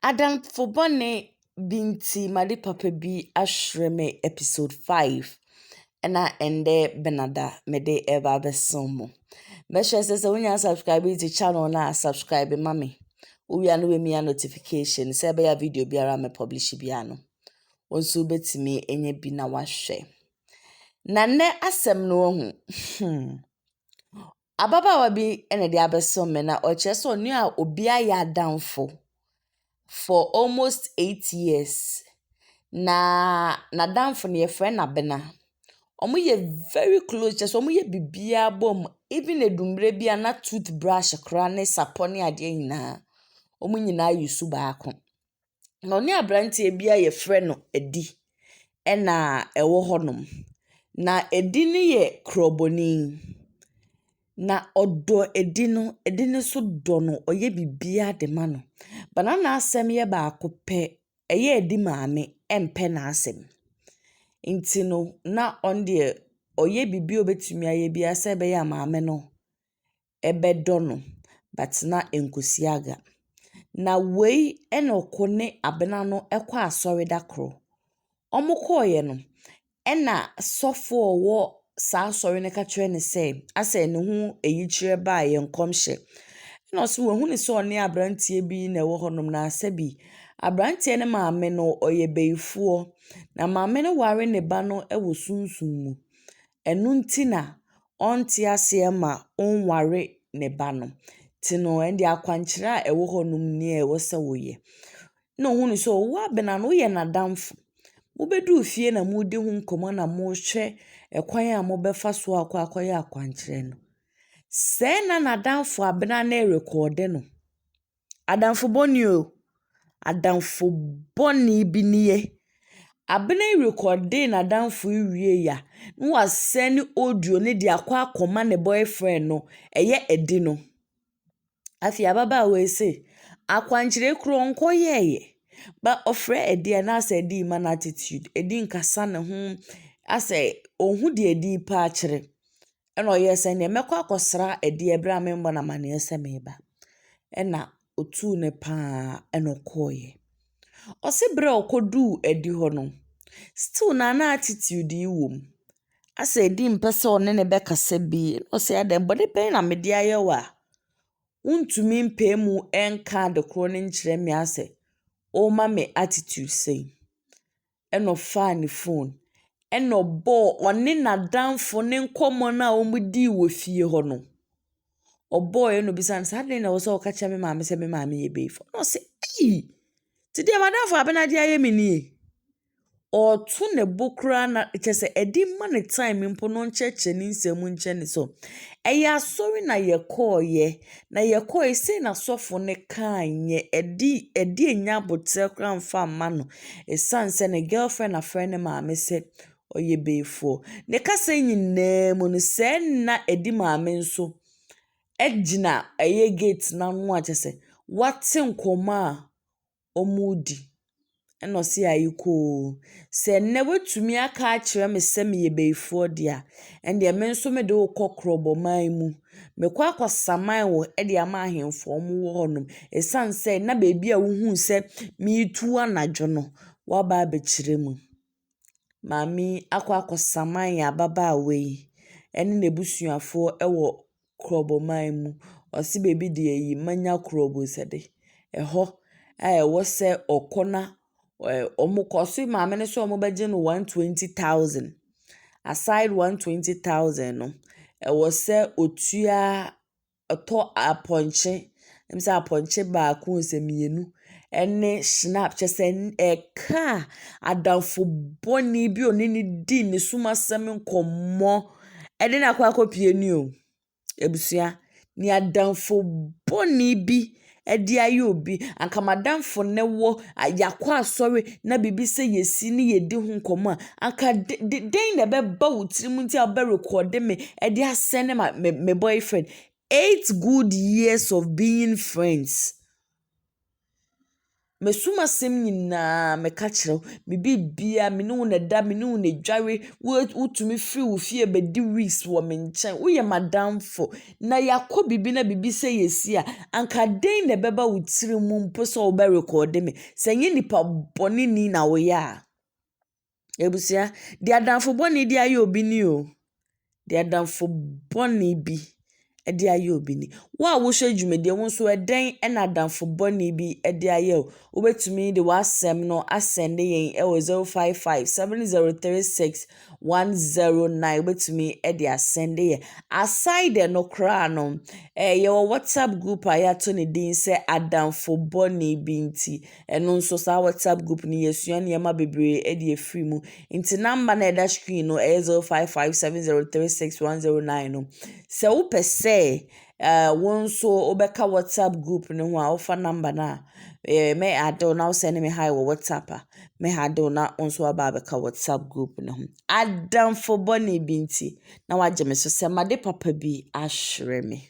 Adamfo bɔne bi nti m'ade papa bi ahyerɛ me episode five ɛna ɛndɛ Benada mede reba abɛso mo. Mɛhyɛ sɛ sɛ wonya subscribe dzi channel no a subscribe ma me. Wowie a na woemia notification sɛ ɛbɛyɛ a video biara a mɛ publish biara no wo nso wobɛtumi anya bi na wahwɛ. Na nɛ asɛm no wahu hmm Ababaawa bi na ɛde abɛso me na ɔkyerɛ sɛ ɔne obi ayɛ adamfo for almost eight years. Na n'adamfo no yɛfrɛ no Abena. Wɔyɛ very close kyerɛ sɛ wɔyɛ biribiara bɔ mu even adummerɛ bi a na tooth brush koraa ne sapɔ ne adeɛ nyinaa wɔn nyinaa yɛ su baako. Na ɔne abranteɛ bi a yɛfrɛ no Adi na ɛwɔ hɔnom. Na Adi no yɛ krɔbɔni. Na ɔdɔ Adi no. Adi no nso dɔ no. Ɔyɛ biribiara de ma no. Bana n'asɛm yɛ baako pɛ. Ɛyɛ a Adi maame mpɛ n'asɛm. Nti no na ɔno deɛ ɔyɛ biribiara a ɔbɛtumi ayɛ biara sɛ ɛbɛyɛ a maame no bɛdɔ no bɛtsena nkwesiada. Na wei na ɔko ne abena no kɔ asɔre da koro. Ɔmo kɔɔeɛ no ɛna sɔfo a ɔwɔ saa asɔre no ka kyerɛɛ no sɛ asɛ ne ho eyikyerɛ baa yɛ nkɔmhyɛ. Ɛna ɔse wahu no sɛ ɔne abranteɛ bi na ɛwɔ hɔ nom na asɛ bi. Abranteɛ no maame no ɔyɛ bayifoɔ. Na maame no ware ne ba no wɔ sunsum mu. Ɛno nti na ɔnte aseɛ ma ɔnware ne ba no. Nti no ɛnde akwankyerɛ a ɛwɔ hɔ nom nie a ɛwɔ sɛ wo yɛ. Na ɔhunu sɛ wo abena no wo yɛ n'adamfo. Mo bɛduru fie na mo redi ho nkɔmmɔ na mo rehwɛ ɛkwan a mo bɛfa so akɔ akɔ yɛ akwankyerɛ no. Sɛɛ na n'adamfo abena no rekɔɔde no. Adamfo bɔ ni o. Adamfo bɔ ni bi nie. Abena yi rekɔde n'adamfo yi wie a, na wasɛne audio no de akɔ akɔma ne bɔyfrɛnd no. Ɛyɛ ɛdi no. Afei ababaawa yi se, akwankyerɛ kura ɔnkɔ yɛɛyɛ. Ba ɔfrɛ ɛdi a, na asɛ ɛdi rema no attitude. Ɛdi nkasa ne ho. Asɛ ɔnhu deɛ ɛdi repa akyerɛ. Ɛna ɔyɛɛ sɛ neɛ mɛkɔ akɔsra Adi berɛ a memmɔ no amanneɛ sɛ mereba. Ɛna ɔtuu no pa ara ɛna ɔkɔeɛ. Ɔse berɛ a ɔkɔduu Adi hɔ no, still na na attitude yi wɔ mu. Asɛ Adi mpɛ sɛ ɔne no bɛkasa bi, ɛna ɔse adɛn, bɔne bɛn na mede ayɛ wo a wontumi mpae mu nka ade korɔ no nkyerɛ me asɛ worema me attitude sei. na ɔfaa ne phone, ɛna ɔbɔɔ ɔne n'adamfo no nkɔmmɔ no a wɔdii wɔ fie hɔ no. Ɔbɔeɛ ɛna ɔbisaa no sɛ, adɛn na ɛwɔ sɛ woka kyerɛ me maame sɛ me maame yɛ baifo? Ɛna ɔse ei, nti deɛ m'adamfo Abena de ayɛ me nie? Ɔreto ne bo koraa na kyerɛ sɛ ɛde ma no time mpo no ɔnkyerɛkyerɛ ne nsɛm nkyerɛ no. So ɛyɛ asɔre na yɛkɔeɛ Na yɛkɔe, sei na sɔfo no kae, nyɛ ɛde ɛde anya aboterɛ koraa mfa mma no, ɛsiane sɛ ne girlfriend afrɛ ne maame sɛ ɔyɛ bayifoɔ. Ne kasa yi nyinaa mu no, sɛ na ɛde maame nso gyina ɛyɛ gate no ano a, kyerɛ sɛ, wate nkɔmmɔ a wɔredi. Ɛnna ɔse ae koo. Sɛ nnɛ woatumi aka akyerɛ me sɛ meyɛ bayifoɔ deɛ a, ɛnneɛ me nso mede wo kɔ kurobɔman mu. Mɛkɔ akɔsaman wo de ama ahemfo a wɔwɔ hɔnom. Ɛsiane sɛ na baabi a wohuu sɛ meretu anadwo no, woaba abɛkyerɛ mu. Maame yi akɔ akɔsaman yɛn ababaawa yi ne n'abusuafoɔ wɔ kurɔbɔman mu. Ɔse baabi deɛ yi manya kurobosɛde. Ɛhɔ a ɛwɔ sɛ ɔkɔ na ɛɛ wɔkɔ ɔse maame no sɛ wɔbɛgye no one twenty thousand. Aside one twenty thousand no, ɛwɔ sɛ ɔtua . ɔtɔ apɔnkye, ɛwɔ mu sɛ apɔnkye baako ɛwɔ mu sɛ mmienu ɛne hyinap kyerɛ sɛ ɛka a adamfo bɔne bi a ɔne no di ne sum asɛm nkɔmmɔ ɛde no akɔ akɔpue ni o abusua. Nea adamfo bɔne bi ɛde ayɛ obi. Anka m'adamfo ne wo, yɛakɔ asɔre na biribi sɛ yɛsi ne yɛdi ho nkɔmmɔ a, anka de de dɛn na ɛbɛba wo tirim nti a wobɛrekɔɔde me de asɛne ma me me boyfriend? Eight good years of being friends. Masu m'asɛm nyinaa meka kyerɛ wo, me biribia, me ne wo na ɛda, me ne wo na ɛdware, wotumi firi wo fie bɛdi weeks wɔ me nkyɛn, woyɛ m'adamfo, na yɛakɔ biribi na biribi sɛ yɛsi a, anka dɛn na ɛbɛba wo tiri mu mpo sɛ wobɛrekɔɔde me, sɛ ɛnyɛ nipa bɔneni na woyɛ a. Abusua, deɛ adamfo bɔne de ayɛ obi ni o. Deɛ adamfo bɔne bi de ayɛ obi ni. Wo a wohwɛ dwumadie yi, wo nso ɛdɛn na adamfo bɔne bi de ayɛ wo? Wobɛtumi de w'asɛm no asɛnde yɛn wɔ zero five five, seven zero three six, one zero nine. Wobɛtumi de asɛnde yɛn. Aside dɛ no koraa no, eh, yɛwɔ WhatsApp group a yɛato ne din sɛ Adamfo Bɔne Bi Nti. Ɛno nso saa WhatsApp group no yɛsua nneɛma bebree de afiri mu. Nti number na ɛda screen no ɛyɛ 0557036109 no. Sɛ wopɛ sɛ uh, wo nso wobɛka WhatsApp group no ho a wofa number no a eh, mɛ adew na wosɛne me hi wɔ WhatsApp a mɛ ha adew na wo nso waba abɛka WhatsApp group no ho. Adamfo bɔne bi nti na wagye me so sɛ made papa bi ahwerɛ me.